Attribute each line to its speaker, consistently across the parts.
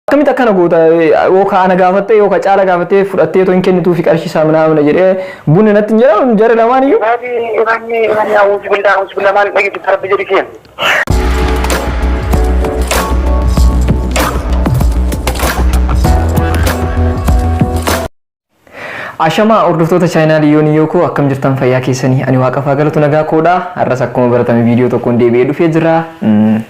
Speaker 1: Akkamitti akkana goota yoo ka ana gaafattee yoo ka caala gaafattee fudhattee too hin kennituufi qarshii isaa minaamina jedhee bunni natti hin jedhamu jara lamaan iyyuu. Rabbi imanni imanni
Speaker 2: awuuzu billaa awuuzu billaa maal dhageessu rabbi jedhi keen.
Speaker 1: Ashamaa hordoftoota chaayinaali yooni yookoo akkam jirtan fayyaa keessanii ani waaqaf haa galatu nagaa koodha har'as akkuma baratame viidiyoo tokkoon deebi'ee dhufee jira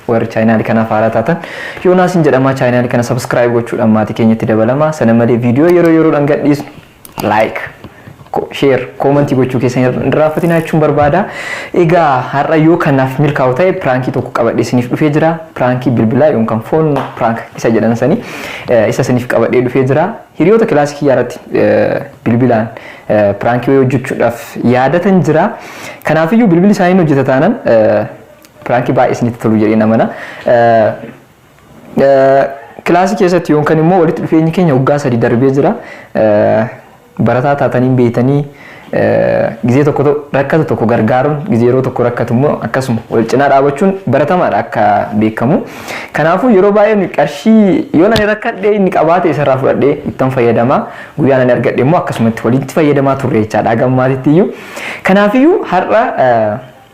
Speaker 1: warri chaayinaali kanaaf haaraa taatan yoonaasin jedhamaa chaayinaali kana sabskiraayib gochuudhaan maatii keenyatti dabalama sana malee viidiyoo yeroo yeroodhaan gadhiisnu laayik sheer koomantii gochuu keessan hin raaffatinaa jechuun barbaada egaa har'a yoo kanaaf milkaa'u ta'e piraankii tokko qabadhee isiniif dhufee jira piraankii bilbilaa yookaan foon piraank isa jedhan sanii isa isiniif qabadhee dhufee jira Hiriyoota kilaasii kiyyaa irratti bilbilaan prank wayii hojjechuudhaaf yaadatan jira. Kanaaf iyyuu bilbilli isaanii hin hojjeta taanan prank baay'ee isinitti tolu jedheen amana. Kilaasii keessatti yookaan immoo walitti dhufeenyi keenya waggaa sadii darbee jira. Barataa taatanii beektanii Gizee tokko rakkatu tokko gargaaruun gizee yeroo tokko rakkatu immoo akkasuma wal cinaa dhaabachuun baratamaadha akka beekamu. Kanaafuu yeroo baay'ee qarshii yoon ani rakkadhee inni qabaate isarraa fudhadhee ittan fayyadama. Guyyaan ani argadhe immoo akkasumatti walitti fayyadamaa turre jechaadha haga ammaatitti iyyuu. Kanaafiyyuu har'a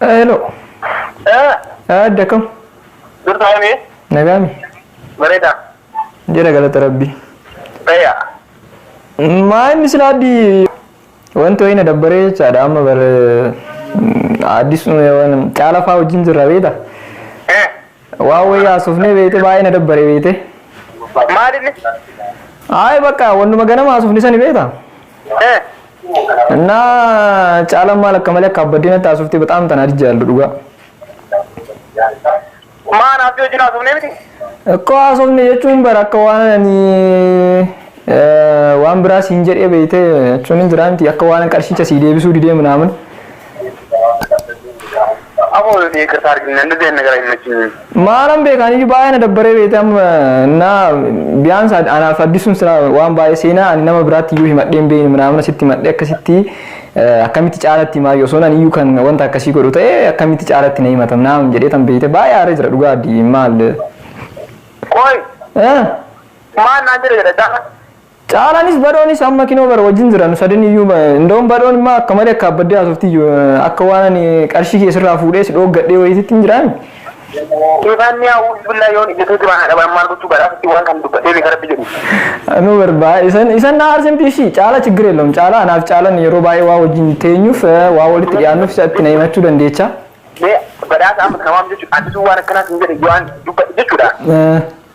Speaker 1: Hello. Adda akkam? Dursa hami?
Speaker 2: Nagaami?
Speaker 1: Bareeda.
Speaker 2: Jira
Speaker 1: galata rabbii. Fayya. Maa inni sila addi wanti wayii na dabbaree jechaadha amma bar addis waan caala faa wajjin jirra beeta. Eh. Waa wayii haasofnee beeyte baay'ee na dabbare beeyte. Maal inni?
Speaker 2: Ayi
Speaker 1: bakka wannuma ganama haasofne sani beeyta. Eh. Na caalan maal akka malee akka abbaddee natti haasofte baxaam tana adijja yaallu dhugaa.
Speaker 2: Maa naaf yoo jinaa sumnee miti? Akkoo haasofne
Speaker 1: jechuun bara akka waan ani waan biraa siin jedhee beeyte jechuun hin jiraa miti akka waan qarshicha sii deebisuu didee minaamin.
Speaker 2: Aboo yoo deeggarsa arginne hin deemne gara hin machiin. Maalan beekaan
Speaker 1: iyyuu baay'ee na dabbaree beekte amma na biyaan isaa anaaf addisuun sila waan baay'ee seenaa ani nama biraatti iyyuu himadhee hin beekne manaamana sitti himadhee akkasitti akkamitti caalatti himaa yoo soon ani iyyuu kan wanta akkasii godhu ta'e akkamitti caalatti na himatam naam jedhee tan beekte baay'ee aaree jira dhugaa addi maal.
Speaker 2: Qoy maal naan jedhe jedha caalatti. Caalanis
Speaker 1: badhoonis amma kinoo bara wajjin jira nu sadin iyyuu indoom badhoon immaa akka malee akka abbaddee haasofti iyyuu akka waan ani qarshii kee sirraa fuudhee si dhooggadhee wayititti hin jiraami. Ifaan
Speaker 2: ni haawuu billaa yoon ijjatee duraan haadha waan maal gochuu garaa sitti waan kan dubbatee beeka rabbi jedhu. Anuu barbaa
Speaker 1: isan isan na aarsimti ishii caala chiggiree loom caala anaaf caalan yeroo baay'ee waa wajjin teenyuuf waa walitti dhiyaannuuf isatti na himachuu dandeecha. Mee badhaasa
Speaker 2: amma kana waan jechuudha addisuu waan akkanaas hin jedhe waan dubbate jechuudha.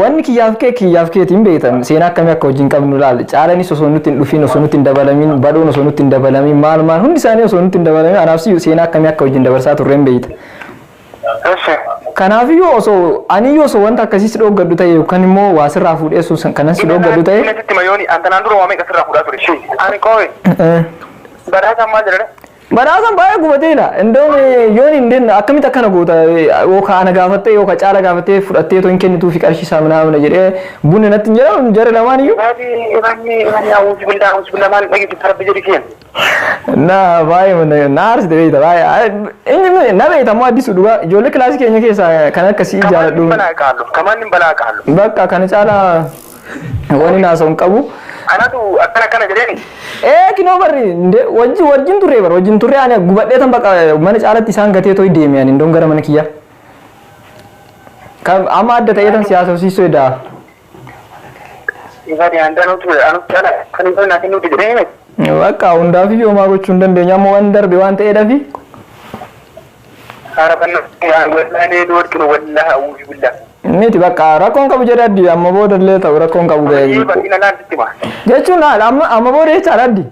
Speaker 1: Wanni kiyyaaf kee kiyyaaf keeti hin beektan seenaa akkamii akka wajjin qabnu laal caalanis osoo nutti hin dhufin osoo nutti hin dabalamiin badhoon osoo nutti hin dabalamiin maal maal hundi isaanii osoo nutti hin dabalamiin anaaf siyyuu seenaa akkamii akka wajjin dabarsaa turre hin beekta. Kanaafiyyuu osoo aniyyuu osoo wanta akkasii si dhooggadhu ta'e yookaan immoo waa sirraa fuudhee osoo san- kanan si dhooggadhu ta'e. Inni sitti mayooni antanaan
Speaker 2: dura waa meeqa sirraa fuudhaa ture. Ani qoowe. Badhaasaan maal jedhani? Badhaasan baay'ee
Speaker 1: gubatee ila. Indoom yoon hin denna akkamitti akkana goota yookaan ana gaafattee yookaan caala gaafattee fudhattee otoo hin kennituu fi qarshii isaa minaa mina jedhee bunni natti hin jedhamu jarri lamaan iyyuu. Rabbi rabbi rabbi
Speaker 2: awuuzu billaa awuuzu billaa maal dhageessu rabbi jedhi keen. Na
Speaker 1: baay'ee mana na aarsite beekta baay'ee inni na beekta ammoo addisuu dhugaa ijoollee kilaasii keenya keessaa kan akkasii jaaladhu. Kamaan hin balaa
Speaker 2: qaallu. Bakka kana caala
Speaker 1: Wanin haasa'u hin qabu. Anatu akkana
Speaker 2: akkana jedheen. Ee kinoo barri
Speaker 1: nde wajji wajjin turre bar wajjin turre ani gubadhee tan baqa mana caalatti isaan gatee toy deeme ani ndon gara mana kiyya. Kan amma adda ta'ee tan siyaasa hosiisuu edaa.
Speaker 2: Ifati handaanuu ture
Speaker 1: anu
Speaker 2: cala kan hin naaf hin nuti jedhee miti.
Speaker 1: Bakka hundaaf iyyuu homaa gochuu hin dandeenye amma waan darbe waan ta'eedhafi
Speaker 2: Miti bakka
Speaker 1: rakkoon qabu jedhe addi amma booda illee ta'u rakkoon qabu ga'e. Jechuun haala amma amma booda jechaadha addi.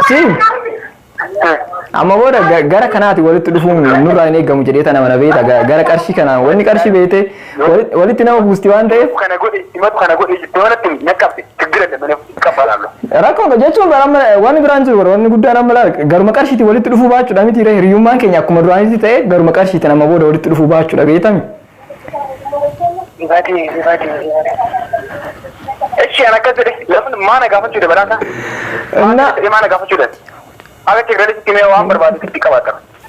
Speaker 1: Si amma booda ga- gara kanaati walitti dhufuun nurraa hin eegamu jedhee tana mana beekta ga- gara qarshii kanaan wanni qarshii beekte walitti nama buusti waan ta'eef. Kana godhe himatu kana
Speaker 2: godhe jettee waan itti hin dhaqqabde tiggira dabalee. kafalamu. Rakkoon dha jechuun
Speaker 1: bara amma wanni biraan jiru bara wanni guddaan amma laal garuma qarshiitiin walitti dhufuu baachuudha miti irra hiriyummaan keenya akkuma duraanitti ta'e garuma qarshiitiin amma booda walitti dhufuu baachuudha beetami. Ifati ifati
Speaker 2: ifati. Echi ana akkas jedhe lafni maana gaafachuu dha badhaasa. Na Maana gaafachuu dha. Akka teekralitti mee waan barbaadu sitti qabaata.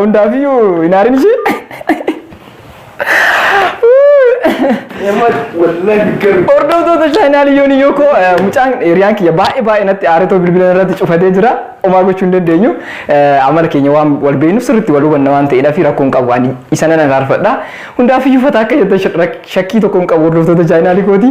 Speaker 1: Hundaafiyyuu hin aarin ishee. Hordoftoota chaayinaal yoon iyyuu koo mucaan hiriyaan kiyya baay'ee baay'ee natti aaretoo bilbila irratti cufatee jira. Omaa gochuu hin dandeenyu. Amala keenya waan wal beeknuuf sirriitti wal hubanna waan ta'eedhaa fi rakkoo hin qabu ani isa nan araarfadha. Hundaafiyyuu fataa akka jettan shakkii tokko hin qabu hordoftoota chaayinaalii kooti.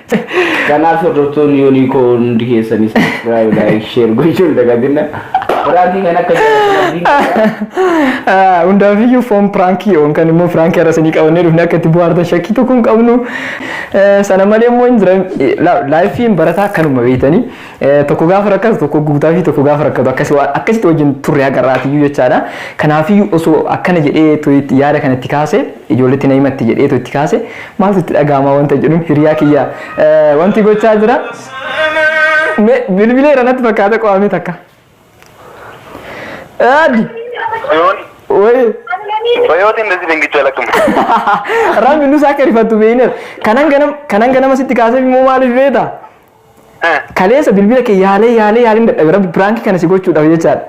Speaker 1: Kanaaf
Speaker 3: hordoftoonni yoonii koo hundi keessanii subscribe like share gochuu hin dagatinna. Piraankii kan akka jaallatanii Ah,
Speaker 1: Hundaafiyyuu foon piraankii yoon kan immoo piraankii har'a isinii qabannee dhufne akka itti buhaartan shakkii tokko hin qabnu. Eh, Sana malee immoo hin jiran eh, la- laayifiin barataa akkanuma beektanii eh, tokko gaafa rakkatu tokko guutaa fi tokko gaafa rakkatu akkasi waan- akkasitti wajjin turre agarraatiyyuu jechaadha. Kanaafiyyuu osoo akkana jedhee tu- yaada kanatti kaase Ijoolleetti na himatti jedheetu itti kaase maaltu itti dhaga'amaa wanta jedhuun hiriyaa kiyya wanti gochaa jira me bilbileera natti fakkaata qo'amee takka. Addi Yoon wayii
Speaker 2: bayootiin nasi dingicha lakkuma. rabbi
Speaker 1: nus akka rifattu beekneef kanan ganam kanan ganama sitti kaaseef immoo maaliif beekta Kaleessa bilbila kee yaalee yaalee yaalin dadhabe rabbi piraanki kana si gochuudhaaf jechaadha.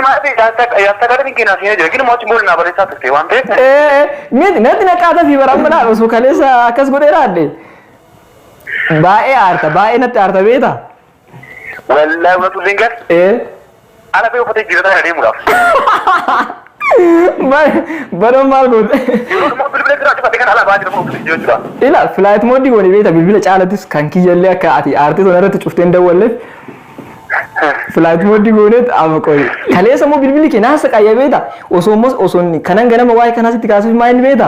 Speaker 1: Maatii
Speaker 2: yaadsa gara dinqii naaf hin jira gini mootiin booli naa barreessaa turte waan ta'eef. Ee miti natti
Speaker 1: naqaata fi bara amma laal osoo kaleessa akkas godhee raadde. Baay'ee aarta baay'ee natti aarta beeta.
Speaker 2: Wallaahi uumatu dinqas. Ee Ala bee uffata jijjiirataa kana
Speaker 1: deemuudhaaf. Baran maal goote? Yeroo immoo bilbila jiraatu
Speaker 2: fate kan ala ba'aa jira uffata jijjiirachuudhaaf. Ila flight mode
Speaker 1: goone beekta bilbila caalatus kan kiyyallee akka ati aartee sana irratti cufteen dawwalleef flight mode gooneet amma qoyi. Kaleessa immoo bilbilli kee naasa qayyee beekta osoo immoo osoo inni kanan ganama waa'ee kanaa sitti kaasuuf maa inni beekta?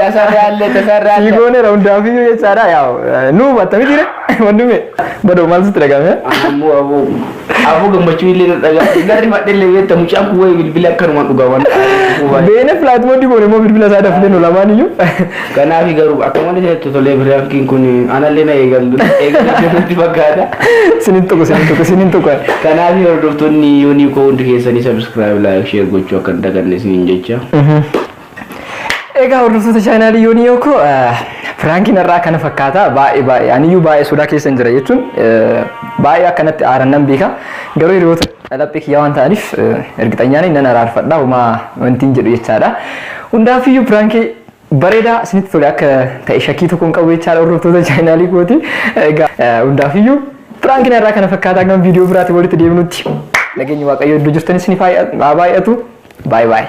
Speaker 2: Tasarraalle Sii tasarraalle.
Speaker 3: goonera hundaafiyyuu
Speaker 1: jechaadha yaa nu hubatta miti re wandime badoo maal sitti dhagahame Ammoo aboo
Speaker 3: aboo gammachuu illee na dhagaa. Garri madde illee beekta mucaan kun wayii bilbila akkanumaan dhugaa waan ta'eef. beene
Speaker 1: flight mode goone immoo bilbila isaa dafne nu lamaan iyyuu Kanaaf
Speaker 3: garuu akka malee itti tolee biraankiin kun anallee na eegallu eegallu jirutti fakkaata. sinin tuqu sinin tuqu sinin tuqu Kanaaf hordoftoonni yoonii koo hundi keessanii subscribe like share gochuu akka hin daganne isiniin jecha.
Speaker 1: Egaa hordoftoota chaanaalii yoonii yooko piraankiin har'aa kana fakkaata baay'ee baay'ee aniyyuu baay'ee sodaa keessa hin jira jechuun baay'ee akkanatti aaran nan beeka garuu hiriyoota laphee kiyyaa waan ta'aniif ergixanyaan nan araarfadha homaa wanti hin jedhu jechaadha. Hundaafiyyuu piraankii bareedaa isinitti tole akka ta'e shakkii tokko hin qabu jechaadha hordoftoota chaanaalii kooti. Egaa hundaafiyyuu piraankiin har'aa kana fakkaata hangam viidiyoo biraatiin walitti deebinutti nageenyi waaqayyoo iddoo jirtan isiniif haa baay'atu. Baay'ee baay'ee.